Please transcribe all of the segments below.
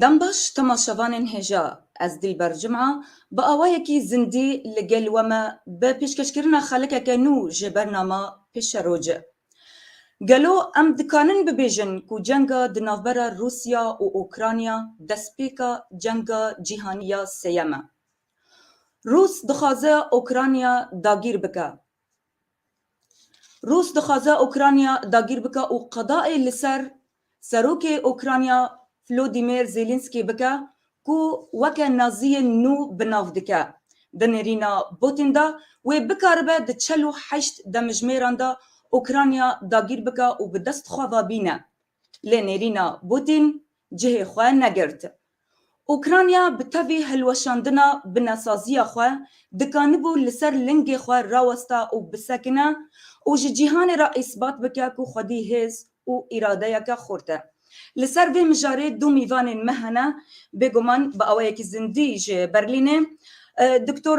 Dembaş, Temaşevanên hêja ez Dîlber Cuma bi awayekî zindî li gel we me bi pêşkêşkirina xalikeke nû ji bernama Pêşeroci. Gelo em dikanin bibêjin ku cenga di navbera Rûsya û Ûkranya destpêka cenga cîhanî ya sêyem e. Rûs dixwaze Ûkranya dagîr bike. Rûs dixwaze Ûkranya dagîr bike û qedayê li ser Serokê Ûkranya Flodîmêr Zêlînskî bike ku weke Naziyên nû bi nav dike. Di nêrîna Botîn de wê bikaribe di çel û heşt demijmêran de Ûkranya dagîr bike û bi dest xwe ve bîne Lê nêrîna Bûtîn cihê xwe negirt. Ûkranya bi tevî hilweşandina binesaziya xwe dikanibû li ser lingê xwe rawesta û bisekine û ji cîhanê re îsbat bike ku xwedî hêz û îradeyeke xurt e. Li ser vê mijarê du mîvanên me hene, bêguman bi awayekî zindî ji Berlînê Doktor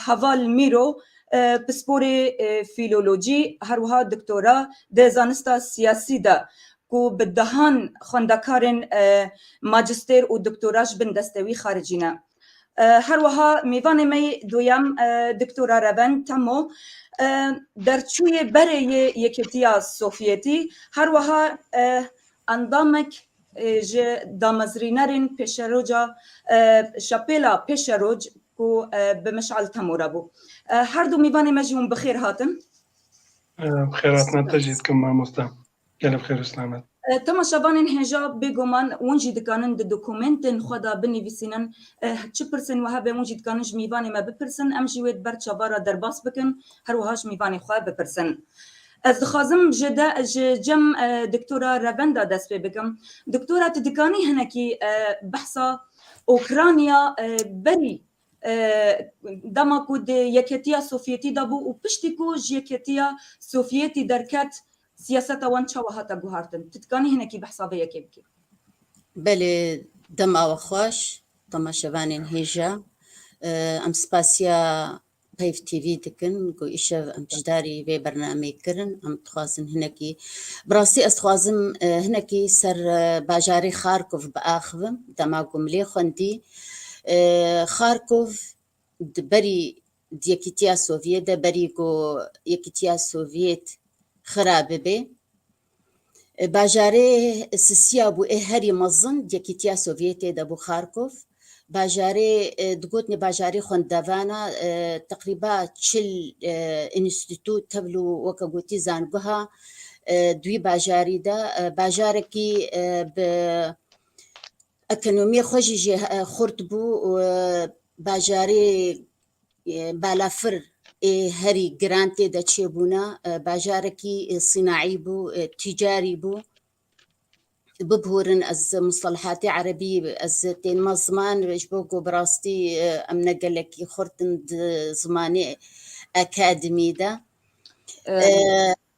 Heval Mîro Pisporê Fîlolojî her wiha doktora di zanista siyasî de ku bi dehan xwendekarên majistêr û doktora ji bin deste wî xaricî ne. Her wiha mêvanê me yê duyem Doktora Revend Temo derçûyê berê yê Yekîtiya Sovyetî her wiha endamek Ji damezrînerên pêşeroca şapêla pêşeroj ku bi Mişal Temûra bû. Her du mîvanê me jî hûn bi xêr hatin. Bi xêr hatine te jî dikim mamoste. Gelê bi xêr û silamet. Temaşevanên hêja bêguman hûn jî dikanin di dokumêntên xwe de binivîsînin çi pirsên wiha bên hûn jî dikanin ji mîvanê me bipirsin em jî wê di ber çavara derbas bikin her wiha ji mîvanê xwe bipirsin. Ez dixwazim ji de ji cem Doktora Revenda dest pê bikim. Doktora tu dikanî hinekî behsa Ûkranya berî dema ku di Yeketiya Sovyetî de bû û piştî ku ji Yeketiya Sovyetî derket siyaseta wan çawa hate guhartin. Tu dikanî hinekî behsa vê yekê bikî? Belê dema we xweş, dema şevanên hêja. Em spasiya Heyv TV dikin ku îşev em pişdarî vê bernameyê kirin em dixwazin hinekî bi rastî ez dixwazim e, hinekî ser e, bajarê Xarkov biaxivim dema ku milê xwendî e, Xarkov di berî di Yekîtiya Sovyê de berî ku Yekîtiya Sovyêt xira bibe Bajarê Sisiya bû ê herî mezin Yekîtiya Sovyetê de bû Xarkov. Bajarê digotinê bajarê xwendevan a, teqrîba çil înstîtû tevl û weke gotî zanguha di wî bajarî de. Bajarekî bi ekonomiyê xwe jî jê xurt bû. Bajarê Balafir ê herî giran tê de çêbûna bajarekî sînaî bû, tîcarî bû. Bibûrin ez mustelehatê erebî ez tênima ziman ji bo ku bi rastî em ne gelekî xurt in di zimanê akademî de.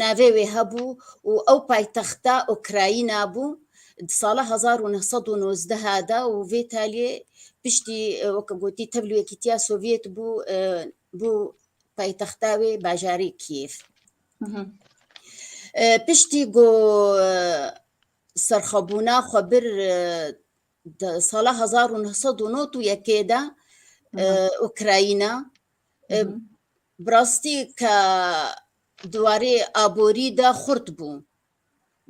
Navê wê hebû û ew paytexta Ukrayîna bû di sala hezar û neh sed û nozdeh de û vê talîyê piştî weke gotî tevlî Yekîtîya Sovyet bû bû paytexta wê bajarê Kîev. Piştî ku serxwebûna xwe bir di sala hezar û neh sed û nod û yekê de Ukrayîna Bi rastî ke di warê aborî de xurt bû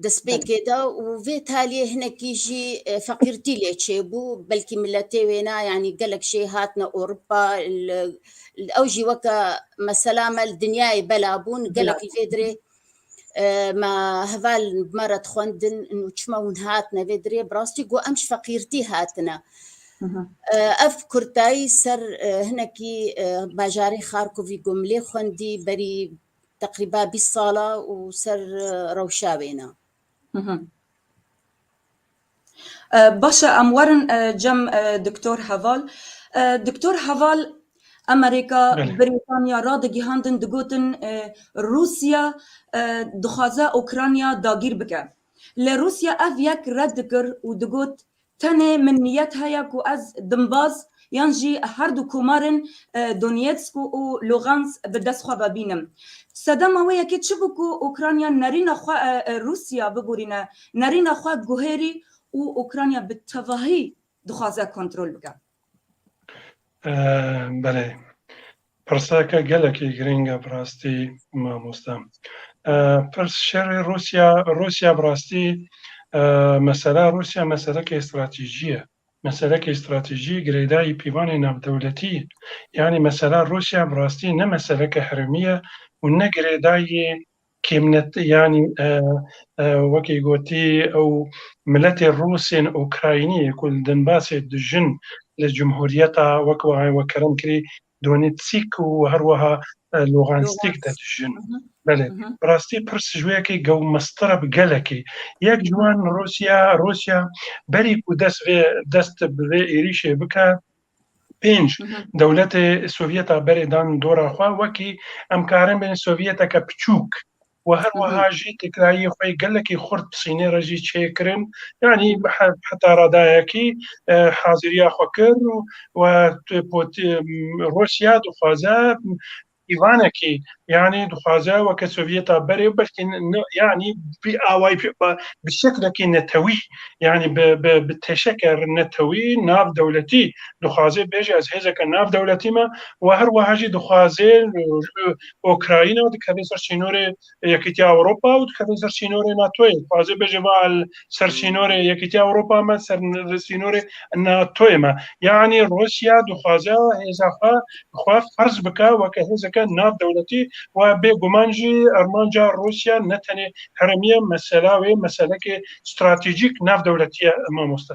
destpêkê de û vê taliyê hinekî jî feqîrtî lê çêbû belkî miletê wê ne yanî gelek jê hatine Ewropa ew jî weke mesela me li dinyayê bela bûn gelek li vê dirê me heval me re dixwendin û çima hûn hatine vê dirê bi rastî got em ji feqîrtî hatine. Ev kurtayî ser hinekî bajarê Xarkovî got milê xwendî berî teqrîba bîst sala û ser rewşa wêna. Baş e em werin cem Doktor Heval. Doktor Heval Emerîka, Brîtanya radigihandin digotin Rûsya dixwaze Ûkranya dagîr bike. Lê Rûsya ev yek red dikir û digot tenê min niyet heye ku ez dimbaz yan jî her du komarên Donetsk û Lugansk bi dest xwe ve bînim. Sedema wê yekê çi bû ku Ukrayna nerîna xwe Rûsya biborîne, nerîna xwe guherî û Ukrayna bi tevahî dixwaze kontrol bike? Belê. Pirseke gelekî girîng e bi rastî mamoste. Pirs şerê Rûsya, Rûsya bi rastî mesele Rûsya meselekê stratejî ye. Meselekê stratejî girêdayî pîvanê navdewletî ye. Yanî mesela Rûsya bi rastî ne meseleke herêmî ye û ne girêdayî kêmnet yanî wekî gotî ew miletê rûs ên ûkraynî ku li Donbasê dijin li cumhûriyeta wek wiha wek kerem kirî Donetsk û herweha Lugansk de dijîn. Belê, bi rastî pir sicoyekê gewmestir e bi gelekê. Yek ji wan Rûsya, Rûsya berî ku dest vê dest bi vê êrîşê bike, pênc dewletê Sovyeta berê dan dora xwe, wekî em karin bên Sovyeteke piçûk, û her wiha jî têkilahiyê xwe yê gelekî xurt bi Sînê re jî çêkirin yanî heta radayekî haziriya xwe kir û Rûsya dixwaze pîvanekî yanî dixwaze weke Sovyeta berê belkî yanî vî awayî bi şeklekî netewî yanî bi teşeke netewî nav dewletî dixwaze bêje ez hêzeke nav dewletî me û her wiha jî dixwaze Ukrayna dikeve ser sînorê Yekîtiya Ewropa û dikeve ser sînorê NATOyê. Xwaze bêje va ser sînorê Yekîtiya Ewropa me ser sînorê NATOyê me. Yanî Rûsya dixwaze hêza xwe xwe ferz bike weke hêzeke nav dewletî û ev bê guman jî armanca Rûsya ne tenê herêmî ye, mesela wê meselekê stratejîk nav dewletî ye mamoste.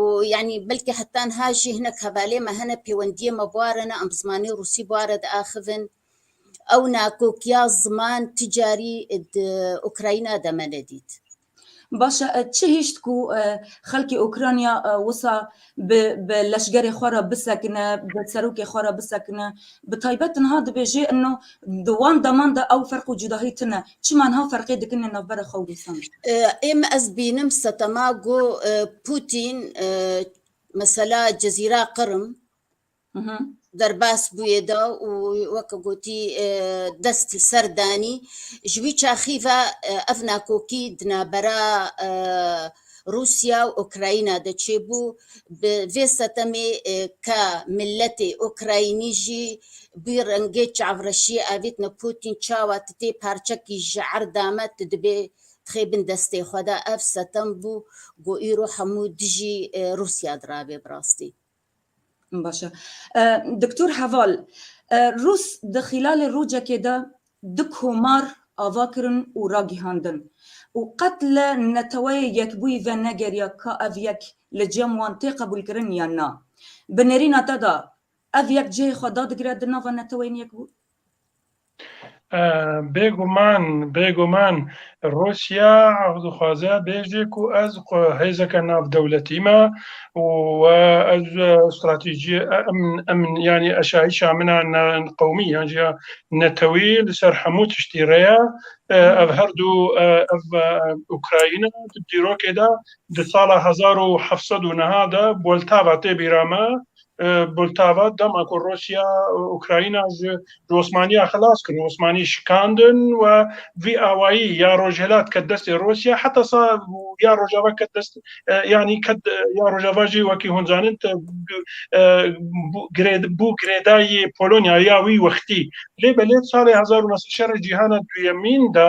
û yanî belkî heta niha jî hinek hevalê me hene pêwendiyê me bûare ne em bi zimanê rûsî bûare diaxivin. Ewna kokiya ziman ti carî di Ukrayna de me nedît. Baş e, çi hişt ku xelkê Ukrayna wisa bi bi leşgerê xwe re bisekine, bi serokê xwe re bisekine? Bi taybet niha dibêjê ino di wan deman de ew ferq û cudahî tune. Çima niha ferqê dikin li navbera xwe û rûsan? Êm ez bînim setema go Putin mesela Cezîra Qırım derbas bûyê da û weke gotî dest li ser danî ji wî çaxî ve ev nakokî di navbera Rûsya û Ukrayna de çêbû, bi vê setemê ka miletê Ukraynî jî bî rengê çavreşiyê avêtine Pûtîn çawa ti tê parçekî ji erda me tu dibê dixê bin destê xwe de ev setem bû ku îro hemû dijî Rûsya dirabe bi rastî. Baş e. Doktor Heval, Rûs di xîlalê rojekê de du komar ava kirin û ragihandin û qet li Neteweyê Yekbûyî ve negeriya ka ev yek li cem wan tê qebûlkirin yan na. Bi nêrîna te de ev yek cihê xwe dadigire di nava Neteweyên Yekbûyî? Bêguman bêguman Rûsya dixwaze bêje ku ez hêzeke navdewletî me û ez stratejî emn yanî eşayîşa min a qewmî yan jî ya netewî li ser hemû tiştî re ye. Ev her du ev Ukrayîna di dîrokê de di sala hezar û heft sed û niha de Boltava tê bîra me Poltava, dema ku Rûsya Ukrayna ji ji Osmaniya xilas kir û Osmanî şikandin we vî awayî ya Rojhilat ket destê Rûsya heta sa ya Rojava ket dest yanî ket ya Rojava jî wekî hûn zanin te bû girêdayî Polonyayê ya wî wextî lê belê salê hezar û neh sed şerê cîhana duyemîn de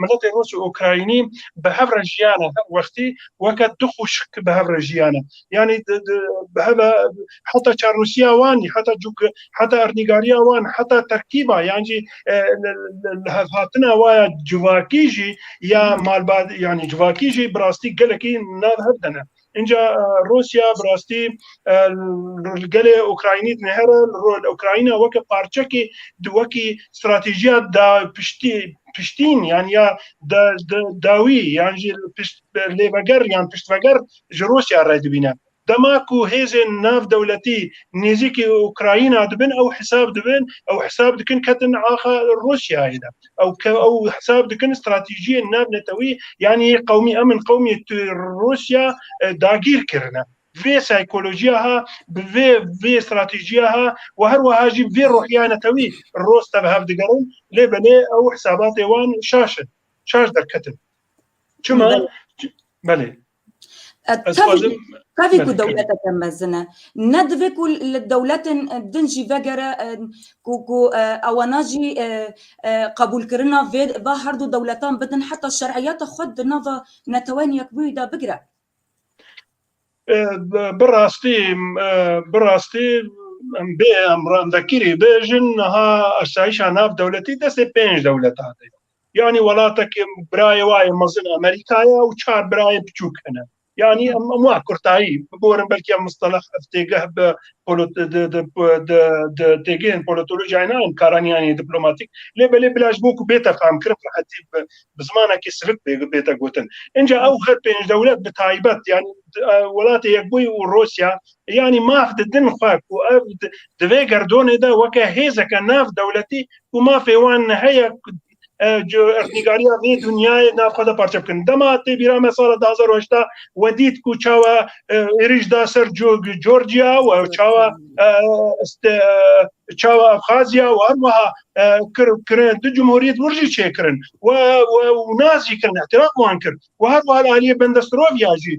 Miletê Rûs û Ukraynî bi hev re jiyane her wextî weke du xwişk bi hev re jiyane. Yanî bi hev e heta çarnûsiya wan, heta cûk, heta ernîgariya wan, heta terkîba yan jî li hevhatina wa ya civakî jî ya malbat yanî civakî jî bi rastî gelekî nav hev de ne. Înca Rûsya bi rastî li gelê Ukraynî dinihêre, li Ukrayna weke parçekî di wekî stratejîya da piştî piştîn yan ya da dawî yan jî pişt lêveger yan piştveger ji Rûsya re dibîne. Dema ku hêzên nav dewletî nêzîkî Ukrayna dibin ew hesab dibin ew hesab dikin ketin axa Rûsyayê de. ew ke ew hesab dikin stratejiyên nav netewî yanî yê qewmî em in qewmê tu Rûsya e, dagîr kirine. Vê saykolojiya ha, bi vê vê stratejiya ha û her wiha jî vê ruhiya netewî roste bi hev digerin lê belê ew hesabatê wan şaş in. Şaş derketin. Çima? Belê. Tevî ku dewleteke mezin e. Ne divê ku li dewletên din jî vegere ku ku ewana jî qebûlkirina vê va herdu dewletan bidin heta şeriyata xwe di nava neteweyên yekbûyî de bigire. Bi rastî bi rastî em bê em vekirî bijin niha esayîşa nav dewletî destê pênc dewletan de ye. Yanî welatekê birayê wa yê mezin Amerîka ye û çar birayê piçûk hene. Yanî em em wa kurtayî biborin belkî em mistelex ev têgeh bi têgehên polotolojiyayê nayên karan yan yê diplomatîk lê belê bila ji bo ku bête famkirin rehetî bi zimanekî sivik bête gotin. Înca ew her pênc dewlet bi taybet yanî Welatê Yekbûyî û Rûsya Yanî maf di din xwe ku ev di vê gerdonê de weke hêzeke nav dewletî ku mafê wan heye nîgariya vê dinyayê nav xwe de parçe bikin. Dema tê bîra me sala du hezar û heşt a we dît ku çawa êrîş da ser Georgia û çawa çawa Abxazya û her wiha kirin du cumhuriyet wir jî çêkirin we û nas jî kirin îtiraf wan kir. و her wiha li aliyê benda siroviya jî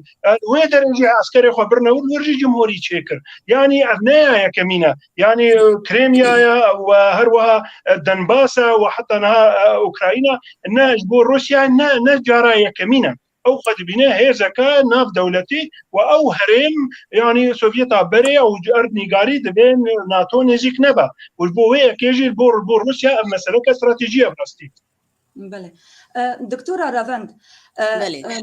wê derê jî eskerê xwe birine wir wir jî cumhurî çêkir yanî ev ne ya yekemîn e yanî krêmiya ye û her wiha denbas e û heta niha ukrayîna ne ji bo rûsya ne ne cara yekemîn e ew xwe dibîne hêzeke nav dewletî û ew herêm yanî sovyeta berê û ji erd nîgarî divê nato nêzîk nebe û ji bo wê yekê jî bo bo rûsya ev meseleke stratejî ye bi rastî Belê. Doktora Revend,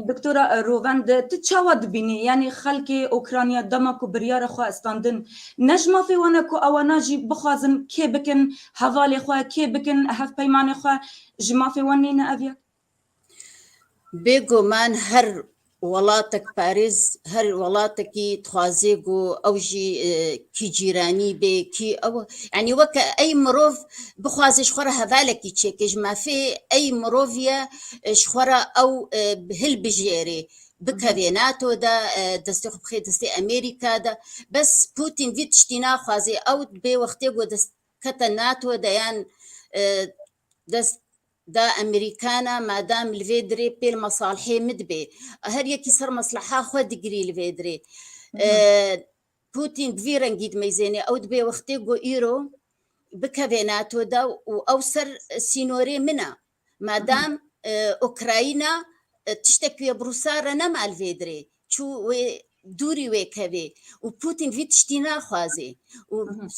Doktora Rovend, tu çawa dibînî? Yanî xelkê Ûkranya dema ku biryara xwe standin, ne ji mafê wan e ku ewana jî bixwazin kê bikin hevalê xwe, kê bikin hevpeymanê xwe, ji mafê wan nîne ev yek? Bêguman her Welatek parêz her welatekî dixwazê ku ew jî e, kî cîranî bê, kî ew yanî weke ey mirov bixwazê ji xwe re hevalekî çêkê ji mafê ey miroviye e, ji xwe re ew e, hilbijêrê. Bikevê NATO de, e, destê xwe bixê destê Amerîka de. Bes Putin vî tiştî naxwazê. Ew bê wextê ku dest kete NATO de yan e, Dest da Emerîkana madam li vê dirê pêl masalhê min dibê. Her yekî ser maslaha xwe digirî li vê dirê. Putin bi vî rengî dimeyzênê ew dibê wextê ku îro bikevê NATO da û ew ser sînorê min e. Madam Ukrayna tiştekî wê bi Rûsa re nema li vê dirê. çû wê dûrî wê tevê û Putin vî tiştî naxwazê û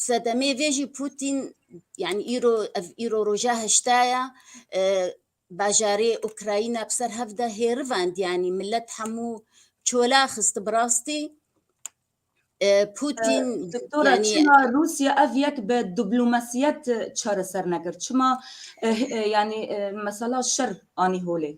sedemê vê jî Putin yani îro ev îro roja heştaya e, bajarê Ukrayna bi ser hevde hêrivand yani millet hemû çola xisti bi rastî Putin Doktora yani... çima Rusya ev yek bi diplomasiyet çareser nekir? Çima yani mesela şer anî holê?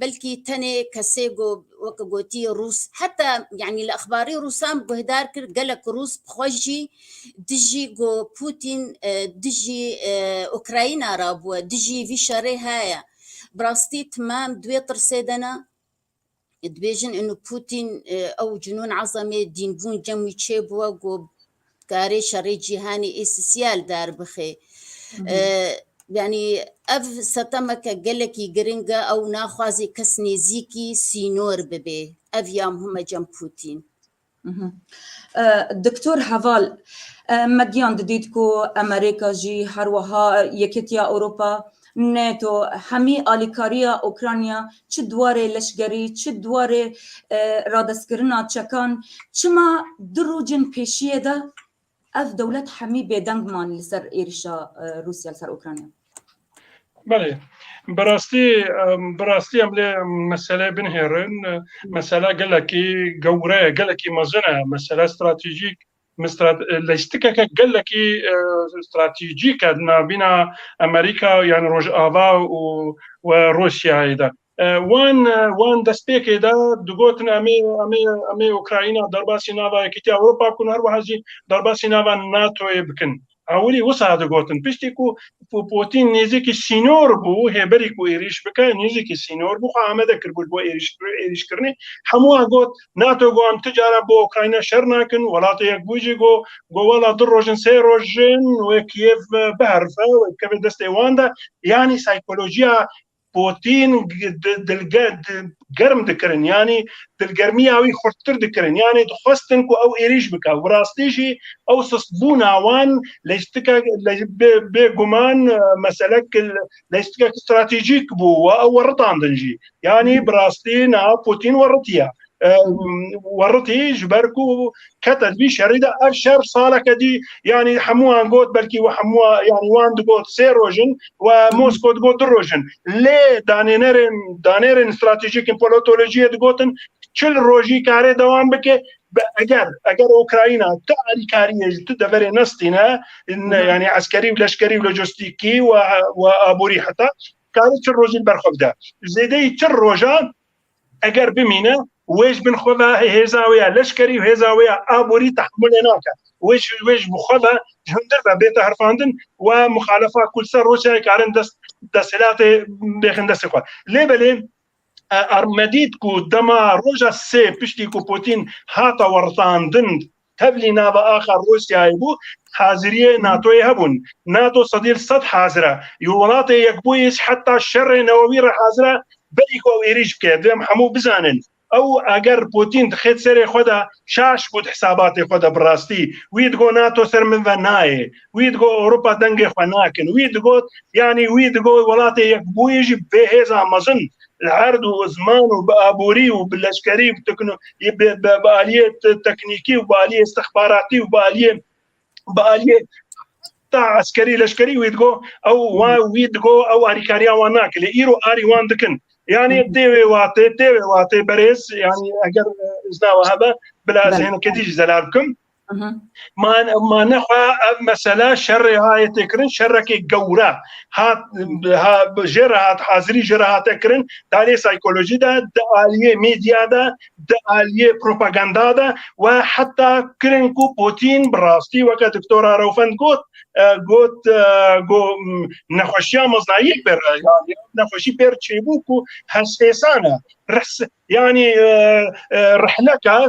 belkî tenê kesê ku weke gotî Rûs heta yanî li exbarî Rûsan guhdar kir gelek Rûs bi xwe jî dijî ku Pûtîn e, dijî e, Ukrayna re bûye, dijî vî şerê heye. Bi rastî timam duê tirsê de ne. Dibêjin inu Pûtîn e, ew cinûn ezemê dînbûn cem wî çêbûye ku Dikarê şerê cîhanî ê sisiyal derbixê. Yanî ev setemeke gelekî giring e ew naxwazê kes nêzîkî sînor bibê. Ev ya muhime cem Pûtîn. Doktor Heval, me giyan didît ku Emerîka jî her wiha Yekîtiya Ewropa Nato, hemî alîkariya Ûkranya çi di warê leşgerî, çi di warê radestkirina çekan, çima du rojên pêşiyê de ev dewlet hemî bêdeng man li ser êrîşa Rûsya li ser Ûkranya? Belê, bi rastî bi rastî em lê meseleyê binihêrin. Mesela gelekî gewre ye, gelekî mezin e. Mesela stratejîk Lejtikeke gelekî stratejîk e di navbîna Amerîka yan Rojava û we Rûsyayê de. Wan wan destpêkê de digotin em ê em ê em ê Ukrayna derbasî nava Yekîtiya Ewropa bikin û her wiha jî derbasî nava NATO'yê bikin. Ewilî wisa digotin piştî ku Pûtîn nêzîkî sînor bû hêberî ku êrîş bike nêzîkî sînor bû xwe amade kiribû ji bo êrîşkirinê hemû wan got NATO got tu cara bo Ukrayna şer nakin welatê yekbûyî jî got got wela du roj in sê roj jin wê Kîyev biherife wê bikeve destê wan de yanî saykolojiya Pûtîn dilged germ dikirin yanî dilgermiya wî xurttir dikirin yanî dixwestin ku ew êrîş bike û bi rastî jî ew sustbûna wan lejtika bêguman meselek lejtikek stratejîk bû we ew weritandin jî yanî bi rastî niha Pûtîn weritiye weritî ji ber ku kete di vî şerî de ev şer saleke dî yanî hemûan got belkî we hemûa yanî wan digot sê roj in و Mosko digot du roj in lê danênerên danêrên stratejîk in politolojiyê digotin çil rojî karê dewam bike eger eger Ukrayna tu alîkariyê ji tu deverê nestîne yanî eskerî û leşkerî û lojistîkî û aborî heta karê çil rojî li ber xwe bide zêdeyî çil rojan Eger bimîne wê ji bin xwe ve hêza wê ya leşkerî û hêza wê ya aborî tehemulê nake. Wê ji wê ji bi xwe ve ji hundir ve bête herfandin û a muxalefa ku li ser roj çayê karin dest desthilatê bêxin destê xwe. Lê belê me dît ku dema roja sê piştî ku Pûtîn hata weritandin Tevlî nava axa Rûsyayê bû, haziriyê NATOyê hebûn. NATO sedîl sed hazir e. Yo Welatê Yekbûyî ji heta şerê newewî re hazir e belî ku ew êrîş bike. Divê em hemû bizanin. Ew eger Pûtîn dixê di serê xwe de şaş bû di hisabatê xwe de bi rastî. Wî digot NATO ser min ve nayê. Wî digot Ewropa dengê xwe nakin. Wî digot yanî wî digot Welatê Yekbûyî jî bê hêza mezin Li erd û ziman û bi aborî û bi leşkerî û bi aliyê teknîkî û bi aliyê istixbaratî û bi aliyê bi aliyê ta eskerî leşkerî wî digo ew wa wî digo ew arîkariya wan nake lê îro arî wan dikin yani tê wê watê tê wê watê berêz yani eger izna we hebe bila ez hêneketî jî zelar bikim man mane xwe ev mesela şerê hayê têkirin şerekê gewre hat jê re hat hazirî jê re hate kirin dalê saykolojî de di aliyê medya de di aliyê propaganda de we heta kirin ku Putin bi rastî weke doktora Rewfend got got go nexweşiya meznayî pêr nexweşî pêr çêbû ku hesfêsane Yani rihleka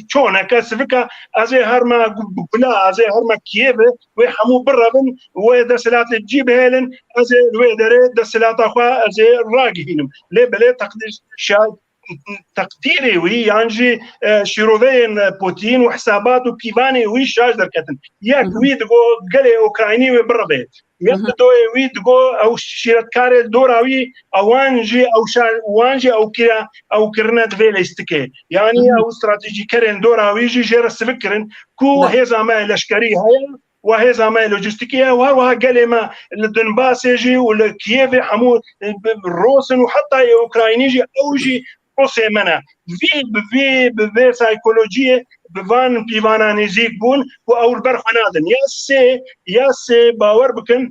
çoneke sivika ez ê herma gula ez ê herma Kiyevê wê hemû birevin wê desilatê cî bihêlin ez ê wê derê desilata xwe ez ê ragihînim lê belê teqdîr şayet teqdîrê wî yan jî şîroveyên Putin û hesabat û pîvanê wî şaş derketin yek wî digo gelê Ukraynî wê birevê Yek li doyê wî digo ew şîretkarê dora wî ewan jî ewşa wan jî ewkîya ew kirine di vê lêstikê. Yanî ew stratejîkerên dora wî jî jê re sivik kirin ku hêza me leşkerî heye û hêza me lojîstikî ye û her wiha gelê me li Donbasê jî û li Kiyevê hemû roz in û heta yê Ukraynî jî ew jî prosê me ne. Vî bi vî bi vê saykolojiyê bi van pîvana nêzîk bûn û ew li ber xwe nadin. Ya sê ya sê bawer bikin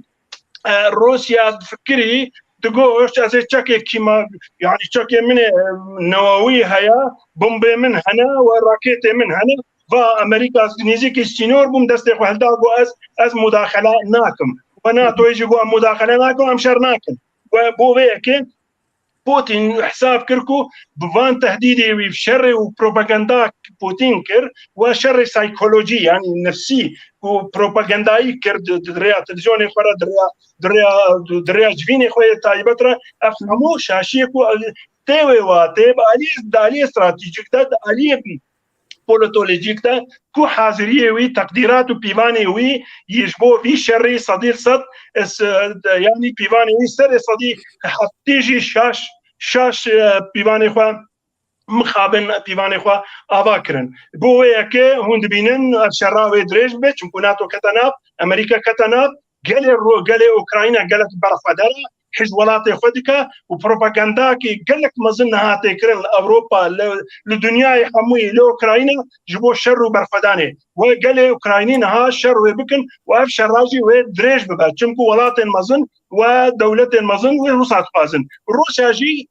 Rûsya fikirî digoşt ez ê çekê kîma yani çekê min ê newawî heye, bombê min hene we raketê min hene va Amerîka nêzîkî sînor bûm destê xwe hilda got ez ez mudaxele nakim. We NATOyê jî got em mudaxele nakin em şer nakin. We bo vê yekê Putin hesab kir ku bi van tehdîdê wî şerê û propaganda Putin kir wa şerê saykolojî yanî nefsî û propagandayî kir di rêya televîzyonê xwe re di rêya di rêya di rêya civînê xwe yê taybet re ev hemû şaşiyê ku tê wê wa tê bi aliyê di aliyê stratejîk de di aliyê politolojîk de ku haziriyê wî, teqdîrat û pîvanê wî yî ji bo vî şerî sedî li sed yanî pîvanê wî serê sedî heftî jî şaş şaş pîvanê xwe mixabin pîvanê xwe ava kirin. Bo wê yekê hûn dibînin şera wê dirêj bibe çimkû NATO kete nav, Amerîka kete nav, Gelê Ru, gelê Ukrayna gelek berxweder e, hîj welatê xwe dike û propagandakî gelek mezin niha tê kirin li Ewropa, li dinyayê hemûyî li Ukrayna ji bo şer û berxwedanê. Wê gelê Ukraynî niha şer wê bikin û ev şera jî wê dirêj bibe. Çimku welatên mezin û dewletên mezin wê Rûsa dixwazin. Rûsya jî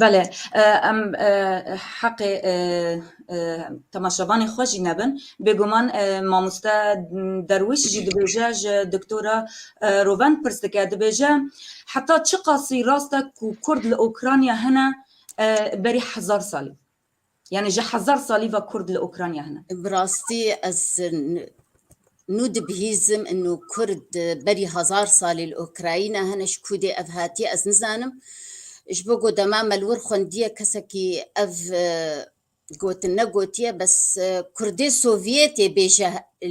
Bele em heqê temaşevanê xwe jî nebin. Bêguman mamoste Derwîş jî dibêje ji Doktora Roven pirs dike dibêje heta çiqasî rast e ku Kurd li Ûkranya hene berî hezar salî? Yani ji hezar salî ve kurd li Ukrayna hene. Bi rastî ez nû dibihîzim nû kurd berî hezar salî li Ukrayna hene ji kû dê ev hatiye ez nizanim. Ji bo ku dema me li wir xwendiye kesekî ev gotin negotiye bes kurdê Sovyetê bêje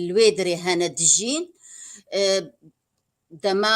li wê dirê hene dijîn. Dema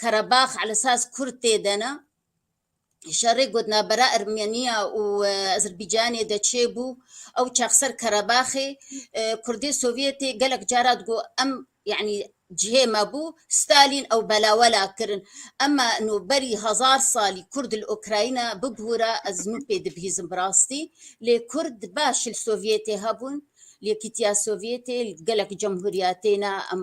Karabax li saz kurd tê de ne. Şerê ku di navbera Ermeniya û Azerbaycanê de çêbû, ew çax ser Karabaxê kurdê Sovyetê gelek cara digo em yanî cihê me bû, Stalin ew belawela kirin. Ema no berî hezar salî kurd li Ukrayna bibûra ez nû pê dibihîzim bi rastî. Lê kurd baş li Sovyetê hebûn, li Yekîtiya Sovyetê, li gelek cemhuriyatê ne em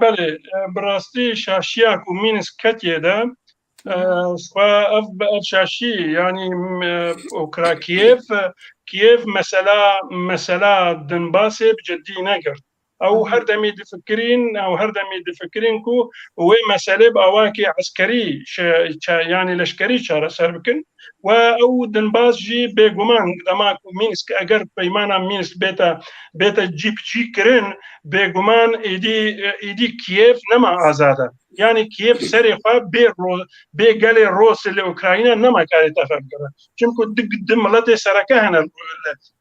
Belê, bi rastî şaşiya ku Mînsk ketiye de xwe ev bi ev şaşî yanî okra Kiev Kiev mesela mesela Dinbasê bi cidî negirt. Ew her demî difikirîn ew her demî difikirîn ku wê meselê bi awayekî eskerî yanî leşkerî çareser bikin. و ew dinbaz jî bêguman dema ku Mînsk eger peymana Mînsk bêta bêta cîbicî kirin bêguman êdî êdî Kiev nema azad e. Yani Kiev serê xwe bê bê gelê Rosê li Ukrayna nema karê tefe bigere. Çimku di di miletê sereke hene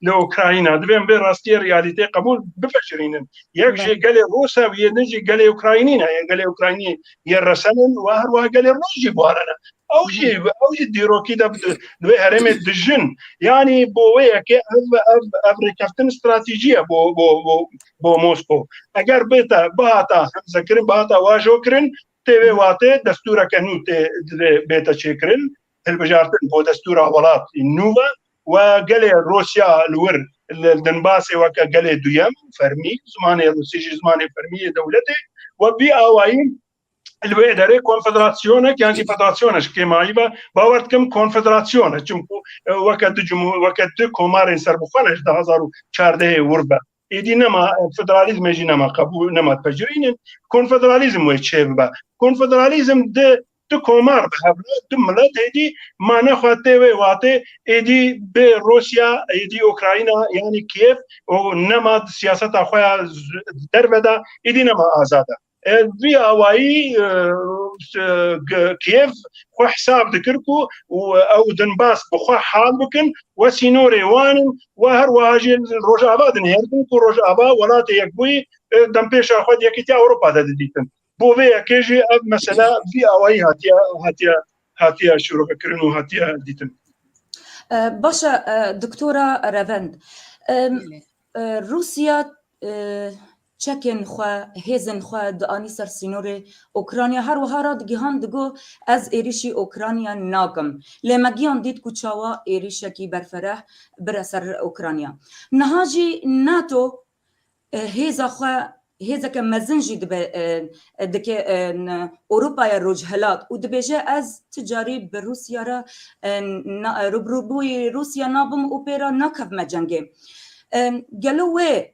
li Ukrayna divê em vê rastiyê realîteyê qebûl bipejirînin. Yek jê gelê Rûs e û yê din jî gelê Ukraynî ne. Yê gelê Ukraynî yê resen in û her wiha gelê Rûs jî buhare ne. Ew jî ew jî dîrokî de li wê herêmê dijin. Yanî bo wê yekê ev ev ev rêkeftin stratîjî ye bo bo bo bo Moskow. Eger bêta bihata hemzekirin bihata wajokirin tê vê watê destûreke nû tê divê bêta çêkirin. hilbijartin bo destûra welat nû ve و gelê Rûsya li wir li Donbasê weke gelê duyem û fermî zimanê Rûsî jî zimanê fermî yê dewletê we bi awayî li wê derê konfederasyonek yan jî federasyone ji kêmayî ve bawer dikim konfederasyone çimkû weke du cumhur weke du komarên serbixwe ne ji du hezar û çardehê wir be Êdî nema federalîzmê jî nema qebûl nema dipejirînin konfederalîzm wê çê bibe. Konfederalîzm di di komar bi hev di milet êdî mane xwe tê wê watê êdî bi Rusya êdî Ukrayna yanî Kiev û nema siyaseta xwe ya derve de êdî nema azad e. Vî awayî Kiev xwe hesab dikir ku ew Donbas bi xwe hal bikin we sînorê wan in û her wiha jî Rojava dinihêrtin ku Rojava welatê yekbûyî dempêşa xwe di Yekîtiya Ewropa de didîtin. Bo vê yekê jî ev mesele vî awayî hatiye hatiye hatiye şîrovekirin û hatiye dîtin. Baş e Doktora Revend. Rûsya çekên xwe, hêzên xwe dianî ser sînorê Ûkranya. Her wiha radigihand digot, Ez êrîşî Ûkranya nakim. Lê me giyan dît ku çawa êrîşekî berfereh bire ser Ûkranya. Niha jî nato hêza xwe hêzeke mezin jî dibe dike Ewropaya Rojhilat û dibêje ez ti carî bi Rûsya re rûbirûbûyî Rûsya nabim û pê re nakevime cengê. Gelo wê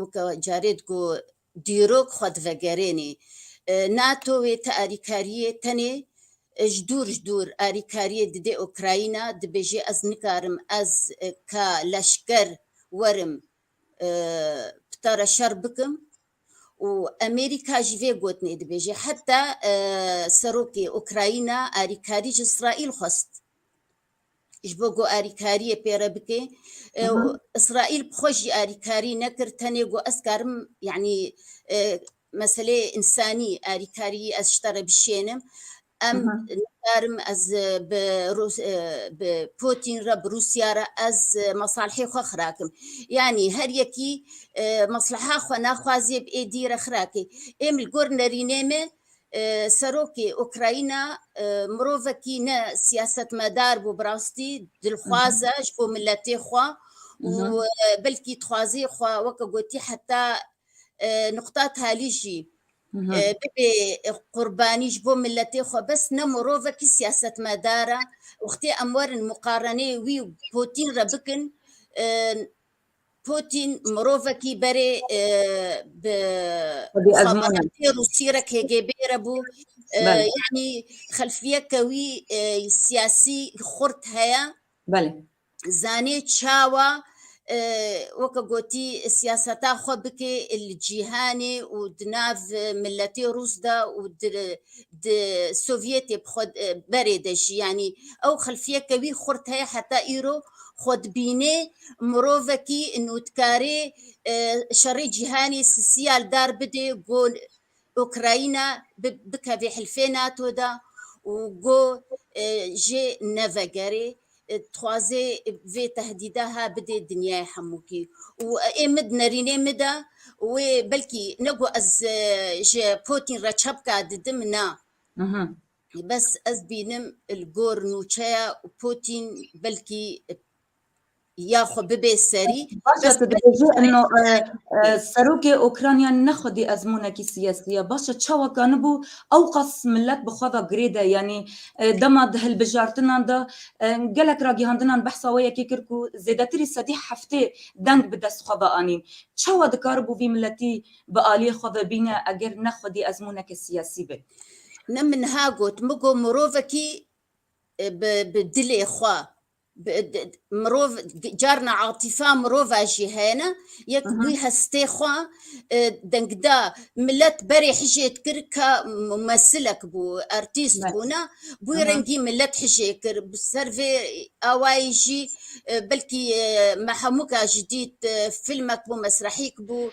Weke carê digo dîrok xwe divegerênê. NATO wê ti alîkariyê tenê ji dûr ji dûr alîkariyê didê Ukrayna, dibêjê ez nikarim ez ka leşker werim pitara şer bikim û Amerîka jî vê gotinê dibêjê. Heta serokê Ukrayna alîkarî ji Îsraîl xwest. ji bo ku alîkariyê pê re bike û Îsraîl bi xwe jî alîkarî nekir tenê got ez karim yanî e, meseleyê însanî alîkariyî ez ji te re bişênim em nikarim ez e, bi Rûs- e, bi Putin re bi Rûsya re ez e, mesalihê xwe xirakim yanî her yekî e, mesleha xwe naxwazê bi êdî re xirakê êm li gor nerînê me Serokê Ukrayna mirovekî ne siyasetmedar bû bi rastî dilxwaz e ji bo miletê xwe û belkî dixwazê xwe weke gotî heta nuqta talî jî bibê qurbanî ji bo miletê xwe bes ne mirovekî siyasetmedar e. Wextê em werin miqarenê wî û Pûtîn re bikin Pûtîn mirovekî berê bi muxaberatê Rûsî re KGB re bû. Yanî xelfiyeke wî siyasî xurt heye. Zanê çawa weke gotî siyaseta xwe bikê li cîhanê û di nav miletê Rûs de û di Sovyetê bi xwe berê de jî. Yanî ew xelfiyeke wî xurt heye heta îro. xwedibînê mirovekî nûdkarê şerê cîhanê sisiyal dar bidê ku Ukrayna bikevê hilfê NATO da û ku jê nevegerê dixwazê vê tehdîda ha bidê dinyayê hemûkî û ê mid nerînê min de wê belkî ne ku ez ji Putin re çepka didim na. Bes ez bînim li gor nûçeya Pûtîn belkî ya xwe bibê serî. Baş e tu dibêjî ino serokê Ûkranya ne xwedî ezmûnekî siyasî ye. Baş e çawa kanibû ew qas milet bi xwe ve girêde yanî dema di hilbijartinan de gelek ragihandinan behsa wê yekê kir ku zêdetirî sedî heftê deng bi dest xwe ve anîn. Çawa dikaribû vî miletî bi aliyê xwe ve bîne eger ne xwedî ezmûneke siyasî be. Ne min ha got min got mirovekî e, bi bi dilê xwe bi- di- di- mirov di- carna atifa mirova jî hene yek Aha. wî hestê xwe e, dengda millet berê hijê dikir ka mumesilek bû artîst Evet. bûna bû Aha. rengî millet hijê kir bi ser vê awayî jî e, belkî e, me hemûka jî dît e, filmek bû mesrehîk bû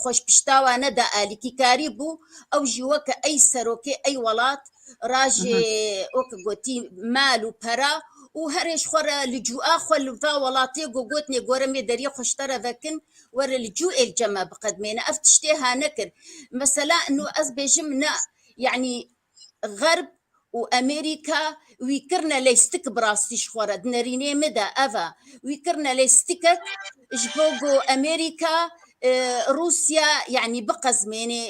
xweşpiştawa ne da alîkîkarî bû ew jî weke ey serokê ey welat rajê ok gotî mal û pera û herêj xwe re li cûa xwe li va welatê got gotnê gore mê deriyê xweştara vekin were li cû êl cema biqedmêne ev tiştê hane kir mesela nu ez bêjim na yanî Xerb û Amerîka wî kirine lêstik bi rastî ji xwe re di nerînê min de ev e. Wî kirine lêstikek ji bo ku Amerîka Rûsya yanî biqezmênê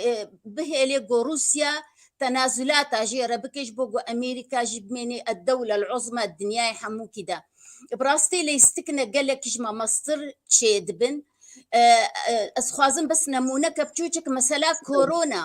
bihêlê ku Rûsya tenazulata jê re bike ji bo ku Amerîka jî bimênê el dewle el uzma di dinyayê hemûkî de. Bi rastî lêstik ne gelekî ji mamestir çêdibin. Ez dixwazim bes nemûneke biçûçik mesela korona.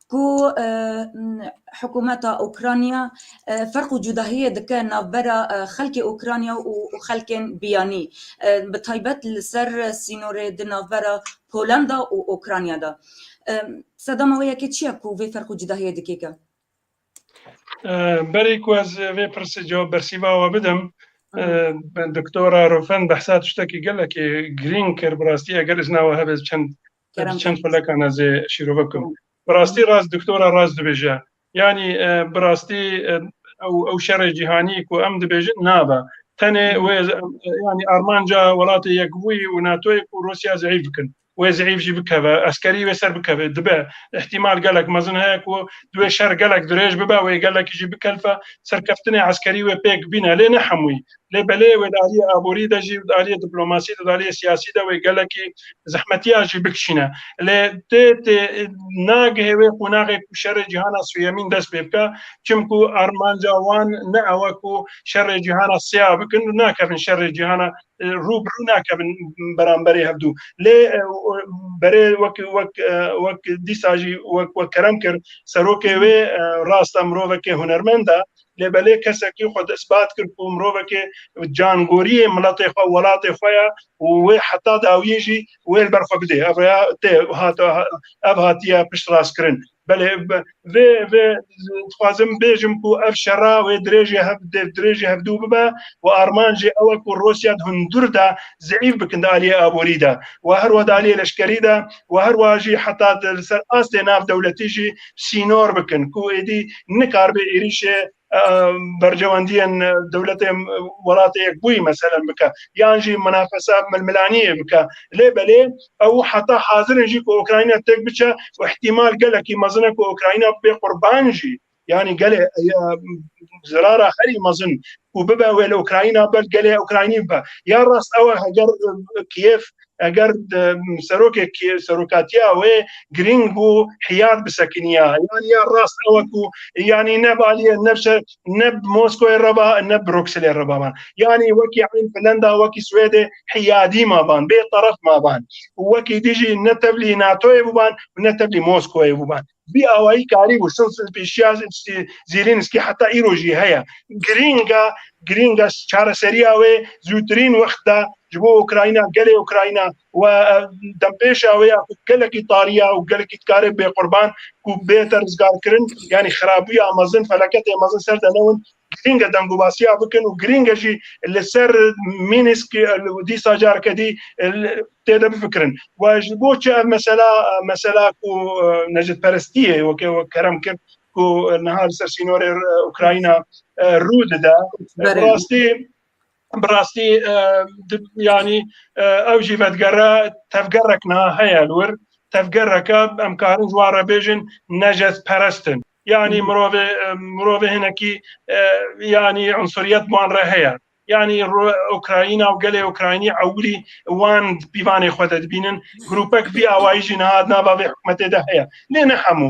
ku hikûmeta Ukrayna ferq û cudahiyê dike navbera xelkê Ukrayna û xelkên biyanî bi taybet li ser sînorê di navbera Polanda û Ukrayna de. Sedama wê yekê çi ye ku vê ferq û cudahiyê dikêke? Berê ku ez vê pirsê cewab bersîva we bidim, Doktora Rufen behsa tiştekî gelekî girîng kir. Bi rastî eger îzna we hebe ez çend Kerem çend xulekana zê şîrove bikim. Bi rastî rast doktora rast dibêje. Yanî bi rastî ew ew şerê cîhanî ku em dibêjin nabe. Tenê wê yanî armanca welatê Yekbûyî û NATOyê ku Rûsya zeîf bikin. Wê zeîf jî bikeve, eskerî wê ser bikeve. Dibe. Îhtîmal gelek mezin heye ku di wê şer gelek dirêj bibe, wê gelekî jî bikelfe. Serkeftinê eskerî wê pêk bîne lê ne hemûyî. Lê belê wê di aliyê aborî de jî û di aliyê diplomasî de di aliyê siyasî de wê gelekî zehmetiya jî bikişîne. Lê tê tê nagihê wê qonaxê ku şerê cîhana suyemîn dest pê bike çimku armanca wan ne ew e ku şerê cîhana sê a bikin û nakevin şerê cîhana rû bi rû nakevin beramberê hevdû. Lê berê wek wek wek dîsa jî wek wek kerem kir serokê wê rast e mirovekê hunermend e lê belê kesekî xwe ispat kir ku mirovekê cangoriyê miletê xwe welatê xwe ye û wê heta dawiyê jî wê li ber xwe bidê. Ev rêya tê ev hatiye piştrastkirin. Belê vê vê dixwazim bêjim ku ev şera wê dirêjê hev dirêjê hevdû bibe û armanjê ew e ku Rûsya di hundir de zeîf bikin di aliyê aborî de we her wa di aliyê leşkerî de we her wa jî heta di li ser astê nav dewletî jî sînor bikin ku êdî nikaribe êrîşê bercewendiyên dewletê welatê yek bûyî meselen bike yan jî minafesa milmilaniyê bike lê belê ew heta hazirin jî ku Ukrayna tek biçe û ihtimal gelekî mezine ku Ukrayna bê qurban jî yani gelê zirara herî mezin û bibe wê li Ukrayna ber gelê Ukraynî bibe ya rast ew heger Kiev Eger serokek serokatiya wê girîng bû hiyar bi sekiniya yanî ya rast ew ku yanî ne baliye ne bi ne bi Moskoyê re ba ne Brukselê re ba man yanî wekî eyn Finlanda wekî Swêdê hiyadî ma ban bê teref ma ban û wekî dijî ne tevlî NATOyê bû ban û ne tevlî Moskoyê bû ban. Bi awayî karî bû silsil pêşiya Zêlênskî heta îro jî heye. Girînga girînga çareseriya wê zûtirîn wext de ji bo Ukrayna gelê Ukrayna û dempêşa wê ya ku gelekî tariya û gelekî dikare bê qurban ku bête rizgarkirin yanî xirabûya mezin feleketê mezin ser de newin Girîng e dengûbasiya bikin û girîng e jî li ser Mînîsk dîsa careke dî tê de bifikirin. We ji bo çi ev mesela mesela ku necdperestiyê weke wek kerem kir ku niha li ser sînorê Ukrayna rû dide. Bi rastî Bi rastî yanî ew jî vedigere tevgerek niha heye li wir. Tevgereke em karin ji wan re bêjin necezperest in. Yanî mirovê mirovê hinekî yanî unsuriyet bi wan re heye. Yanî Ukrayîna û gelê Ukraynî ewilî wan di pîvanê xwe de dibînin. Grûpek vî awayî jî niha di nava vê hikûmetê de heye. Lê ne hemû.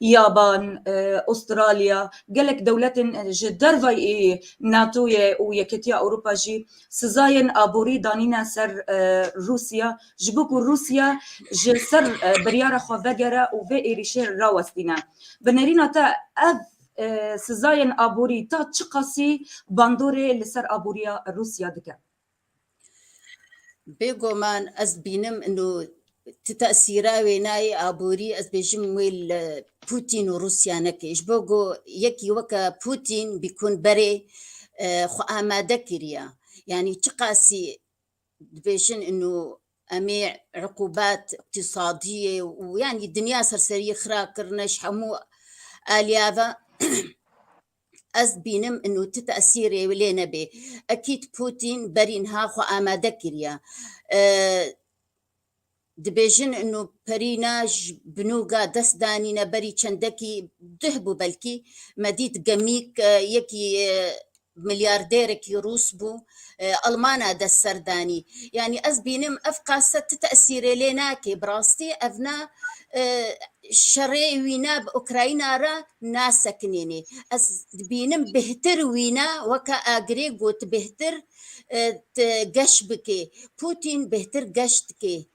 Yaban, Avustralya, gelek dewletên ji dervayî NATO'yê û Yekîtiya Ewropa jî sizayên aborî danîne ser Rûsya ji bo ku Rûsya ji ser biryara xwe vegere û vê êrîşê rawestîne. Bi nêrîna te ev sizayên aborî ta çiqasî bandorê li ser aboriya Rûsya dike? Bêgoman ez bînim ino ti tesîra wêneyê aborî ez bêjim wê li Pûtîn û Rûsya nekê. Ji bo ku yekî weke Pûtîn bîkun berê e, xwe amade kiriye. Yanî çiqasî dibêjin ino em ê iqûbet îqtîsadiyê û yanî dinya serseriyê xira kirine ji hemû aliyê ve Ez dibînim inû ti tesîrê wî lê nebê. Ekîd Pûtîn berînha xwe amade kiriye. Dibêjin inû perîna ji binûga dest danîne berî çendekî duh bû belkî. Me dît gemîk yekî milyardêrekî rûs bû Almana dest ser danî. Yanî ez bînim ev qase ti tesîrê lê nake. Bi rastî ev ne şerê wîne bi Ukrayna re nasekinênê. Ez dibînim bêhtir wîne weke agirê got bêhtir geş bikê. Putin bêhtir geş dikê.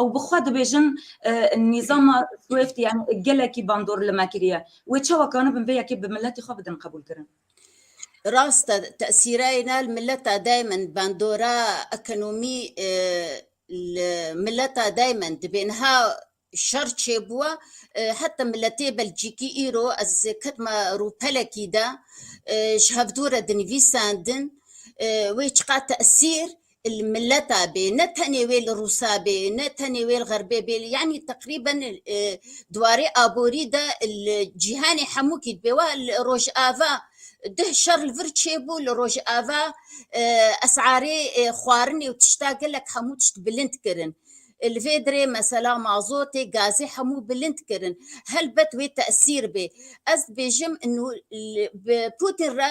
ew bi xwe dibêjin nîzama Swift yani gelekî bandor li me kiriye. Wê çawa kanibin vê yekê bi miletê xwe bidin qebûlkirin. Rast e, tesîreyna li mileta daymen bandora ekonomî li mileta daymen dibê niha şer çêbûwa heta miletê Belcîkî îro ez ketima rûpelekî de ji hevdû re dinivîsandin wê çiqas tesîr li mileta bê ne tenê wê li Rûsa bê ne tenê wê li Xerbê bê yanî teqrîben e, diwarê aborî de li cîhanê hemû kî dibê wa li Rojava duh şer li vir çêbû li Rojava e, esarê e, xwarinê û tişta gelek hemû tişt bilind kirin. Li vê dirê mesela mazotê, gazê hemû bilind kirin. Helbet wê tesîr bê. Ez dibêjim û bi Putin re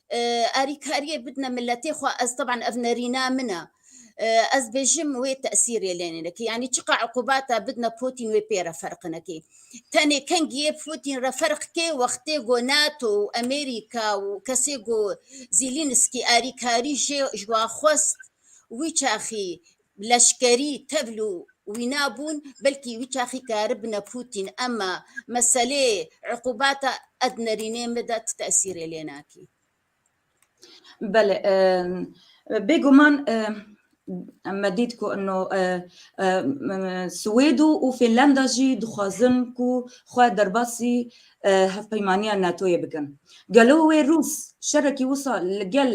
Alîkariyê bidine miletê xwe ez teban ev nerîna min e. Ez bêjim wê tesîrê lê nênekê. Yanî çiqa eqûbata bidine Pûtîn wê pê re ferq nekê. Tenê kengiyê Pûtîn re ferq kê wextê ku NATO û Amerîka û kesê ku Zîlînskî alîkarî jê ji wa xwest wî çaxî leşkerî tevl û wîna bûn, belkî wî çaxî karibne Pûtîn ema meselê iqûbata Ednerînê me de ti tesîrê lê nakî. Bele, bêguman me dît ku ino Swêd û Fînlanda jî dixwazin ku xwe derbasî hevpeymaniya NATO'yê bikin. Gelo wê Rûs şerekî wisa li gel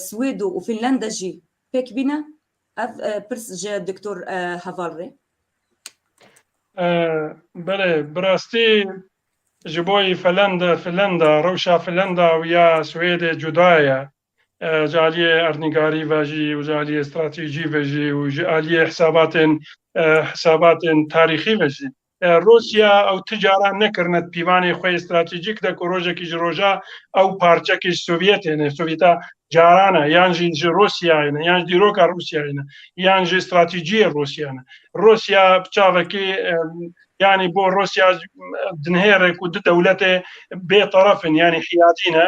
Swêd û Fînlanda jî Pêk bîne ev pirs ji Doktor Heval rê. Belê bi rastî ji bo yî Felenda, Filenda, rewşa Filenda û ya Swêdê cuda ye. Ji aliyê erdnîgarî ve jî û ji aliyê stratejî ve jî û ji aliyê hesabatên hesabatên tarîxî ve jî Rûsya ew ti caran nekirine di pîvanê xwe yê stratejîk de ku rojekî ji roja ew parçekê ji Sovyetê ne, Sovyeta caran e yan jî ji Rûsyayê ne, yan ji dîroka Rûsyayê ne, yan jî stratejiyê Rûsya ne. Rûsya bi çavekî yanî bo Rûsya dinihêre ku du dewletê bêteref in yanî hiyadî ne.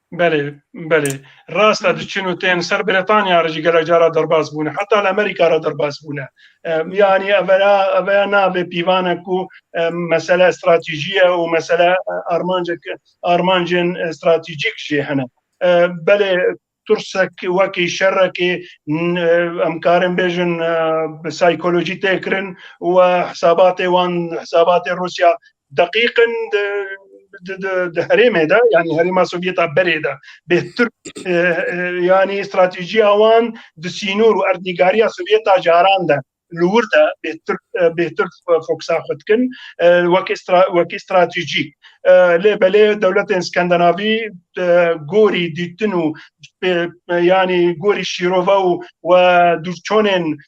Belê, belê. Rast e diçin û tên ser Brîtanya re jî gelek cara derbas bûne. Heta li Amerîka re derbas bûne. Yanî evera eveya navê pîvane ku mesele stratejî ye û mesele armancek armancên stratejîk jê hene. Belê tursek wekî şerekî em karin bêjin psîkolojî tê kirin û hesabatê wan hesabatê Rûsya deqîqin di herêmê de yanî herêma Sovyeta berê de bêhtir yanî stratejiya wan di sînor û erdnîgariya Sovyeta caran de li wir de bêhtir bêhtir foksa xwe dikin wekî wekî stratejî lê belê dewletên Skandinavî gorî dîtin û yanî gorî şîrova û we dûrçonên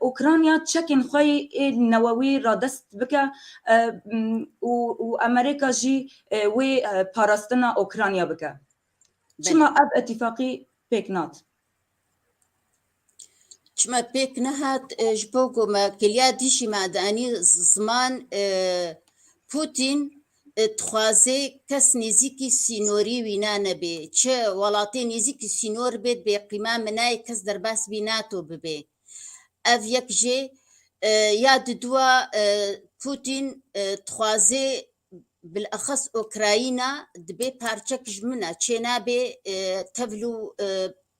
Ukrayna çekên xwe yê newewî radest bike û Amerîka jî wê parastina Ukrayna bike. Çima ev îtîfaqî pêk nat? Çima pêk nehat ji bo ku me kiliya dijî me de anî ziman Putin dixwaze kes nêzîkî sînorî wî ne nebê. Çi welatê nêzîkî sînor bê dibê qîma minayê kes derbas bî nato bibê. Ev yek jê ya diduwa Pûtîn dixwaze bilexes Okrayîna dibê parçek ji min e, çênabê tevlû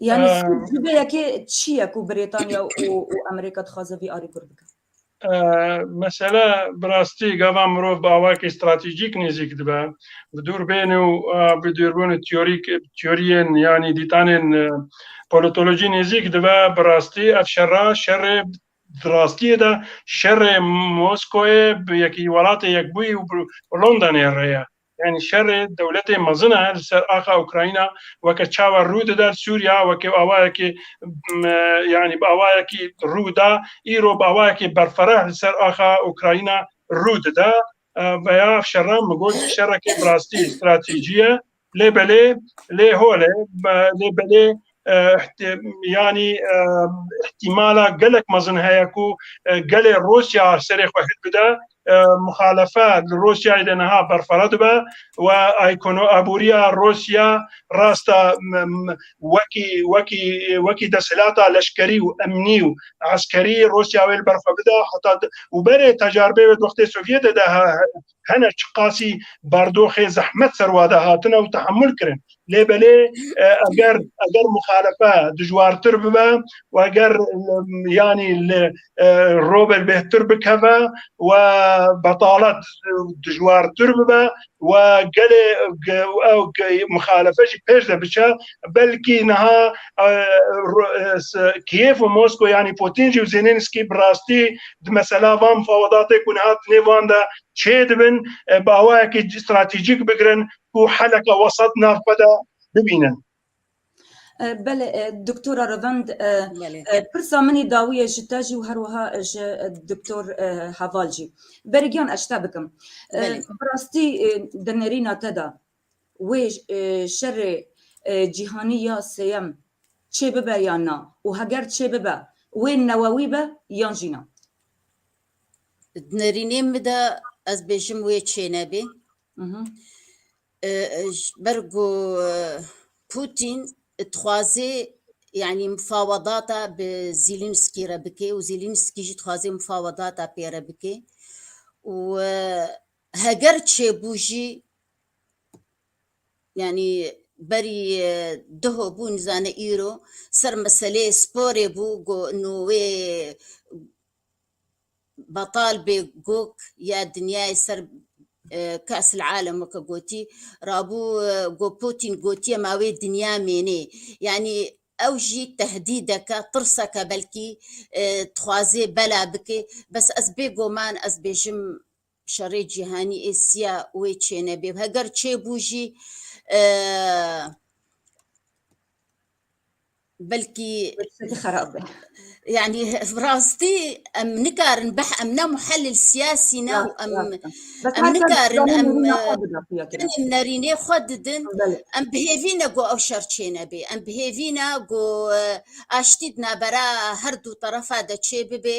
Yani Ee, Sud ji vê yekê çi ye ku Brêtanya û û Amerîka dixwaze vî arî kur bike? Ee, Mesele bi rastî gava mirov bi awakî stratejîk nêzîk dibe. Bi dûrbênê û e, bi dûrbûnê teorîk teoriyên yanî dîtanên e, politolojî nêzîk dibe. Bi rastî ev şerra şerê di rastiyê de şerê Moskoyê bi yekî welatê yekbûyî û bi Londonê re ye. Yanî şerê dewletê mezin e li ser axa Ukrayna weke çawa rû dide li Sûriya weke bi awayekê yanî bi awayekî rû da îro bi awayekê berfereh li ser axa Ukrayna rû dide veya şerran min got şerekê bi rastî stratejî ye lê belê lê holê lê belê yanî îhtîmala gelek mezin heye ku gelê Rûsya serê xwe hil bide muxalefe li Rûsyayê de niha berfara dibe û aykono abûriya Rûsya rasta wekî wekî wekî desthilata leşkerî û emnî û eskerî Rûsya wê li ber xwe bide heta û berê tecaribê wê di wextê Sovyetê de hene çiqasî bardoxê zehmet serwade hatine û tehamul kirin lê belê eger eger muxalefe dijwartir bibe û eger yanî li robel bêhtir bikeve و betalet dijwartir bibe و gelê ew muxalefe jî pêş de biçe belkî niha Kiev û Mosko yanî Putin jî û Zelenskî bi rastî di mesela van mifawedatê ku niha di nêv wan de çêdibin bawayekî stratejîk bigirin ku heleke wesat nav xwe de bibînin. Bele Doktora Revend pirsa min ê dawiye ji te jî û her wiha ji Doktor Heval jî. Berê giyan ez ji te bikim. Bi rastî di nêrîna te de wê şerê cîhanî ya sêyem çê bibe yan na û heger çê bibe wê newewî be yan jî na. Di nerînê min de ez bêjim wê çê nebê. Ber ku Putin dixwazê yani mufawedata bi Zîlînskî re bikê û Zîlînskî jî dixwazê mufawedata pê re bikê û Heger çêbû jî yanî berî diho bû nizane îro ser meseleyê sporê bû go no wê betal bê gok ya dinyayê ser Kasil Alem weke gotî rabû go Putin gotiye ma wê dinya mênê yanî ew jî tehdîdeke tirseke belkî dixwazê bela bikê bes ez bê goman ez bêjim Şerê cîhanî ê siya wê çênebê. Heger çêbû jî belkî xerab be. Yani rastî em nikarin beh em ne muhelil siyasî ne û em em nikarin em tenê nerînê xwe didin em bihêvîne ku ew şer çênebê em bihêvîne ku aştî di navbera her du terefa de çêbibê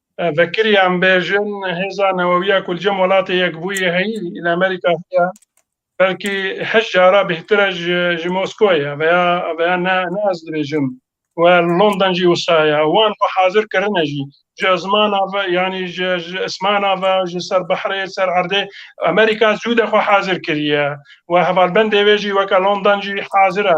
Vekirî em bêjin hêza newewiya ku li cem welatê yekbûyî heyî li Amerîka heye belkî heşt cara bêhtir e ji ji Moskoyê veya veya ne ne ez dibêjim we London jî wisa ye wan xwe hazir kirine jî ji zimana ve yanî ji ji ismana ve ji ser behrê ser erdê Amerîka zû de xwe hazir kiriye we hevalbendê wê jî weke London jî hazir e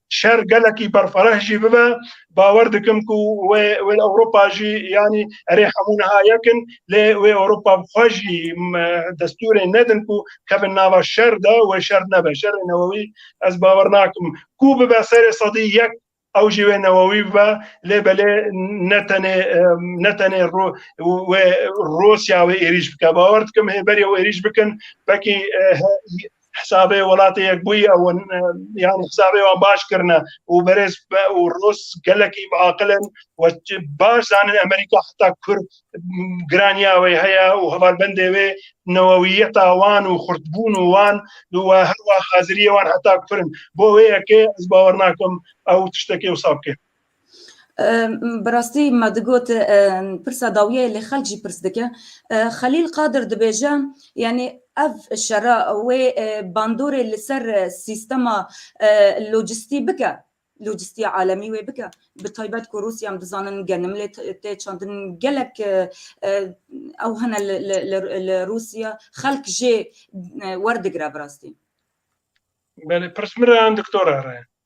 Şer gelekî berfireh jî bibe bawer dikim ku wê wê li Ewropa jî yanî erê hemû niha yek in lê wê Ewropa bi xwe jî destûrê nedin ku kevin nava şer de wê şer nebe şerê newewî ez bawer nakim ku bibe serê sedî yek ew jî wê newewî bibe lê belê ne tenê ne tenê wê Rûsya wê êrîş bike bawer dikim hê berê wê êrîş bikin wekî Hisabê welatê yekbûyî ew in yan hisabê wan baş kirine û berêz û rûs gelekî bi aqil in we baş zanin Amerîka heta kur giraniya wê heye û hevalbendê wê newewiyeta wan û xurtbûn û wan û we her wa haziriyê wan heta kur in bo wê yekê ez bawer nakim ew tiştekê wisa bike. Bi rastî me digot pirsa dawiyê lê xelk jî pirs dike. Xelîl Qadir dibêje yanî ev şera wê bandorê li ser sîstema locîstî bike, locîstiya alemî wê bike bi taybet ku Rûsya em dizanin genim lê tê çandin gelek ew hene li Rûsya xelk jê werdigire bi rastî. Belê pirs min re yan doktor re re?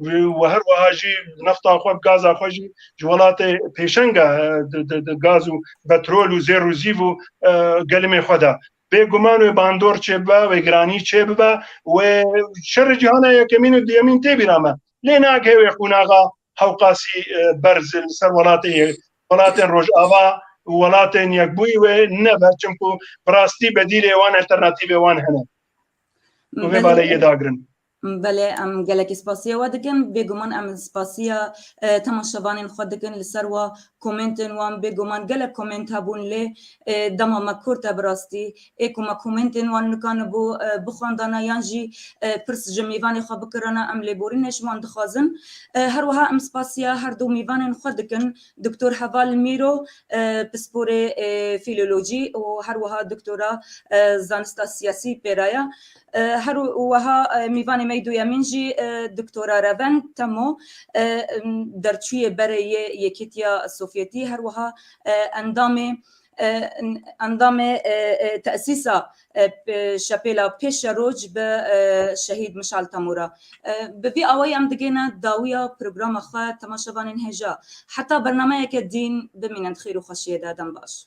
û her weha jî nefta xwe gaza xwe jî ji welatê pêşenga gaz û petrol û zêr û zîv û gelimê xwe de. Bêguman wê bandor çêbibe wê giranî çêbibe wê şerê cîhana yekemîn û duyemîn tê bîra me. Lê nake wê qonaxa hewqasî berz li ser welatê yê welatên rojava û welatên yekbûyî wê nebe çimkû bi rastî bedîlê wan alternatîvê wan hene. Bi vê baleyê dagirin. Belê em gelekî spasiya we dikin. Bêguman em spasiya temaşevanên xwe dikin li ser wa komêntên wan. Bêguman gelek komênt hebûn lê dema me kurt e bi rastî. Ê ku me komêntên wan nikanibû bixwendana yan jî pirs ji mêvanê xwe bikirana em lêborînê ji wan dixwazin. Her wiha em spasiya her du mêvanên xwe dikin Doktor Heval Mîro pisporê fîlolojî û her wiha doktora zanista siyasî pêra ye. Her weha mîvanê me yê duyemîn jî Doktora Revend Temo derçûyê berê yê Yekîtiya Sovyetî her weha endamê endamê tesîsa şepêla pê şeroj bi Şehîd Mişal Temo re. Bi vî awayî em digêne dawiya programa xwe temaşevanên hêja heta bernameyeke dîn bimînin di xêr û xweşiyê de. Dem baş.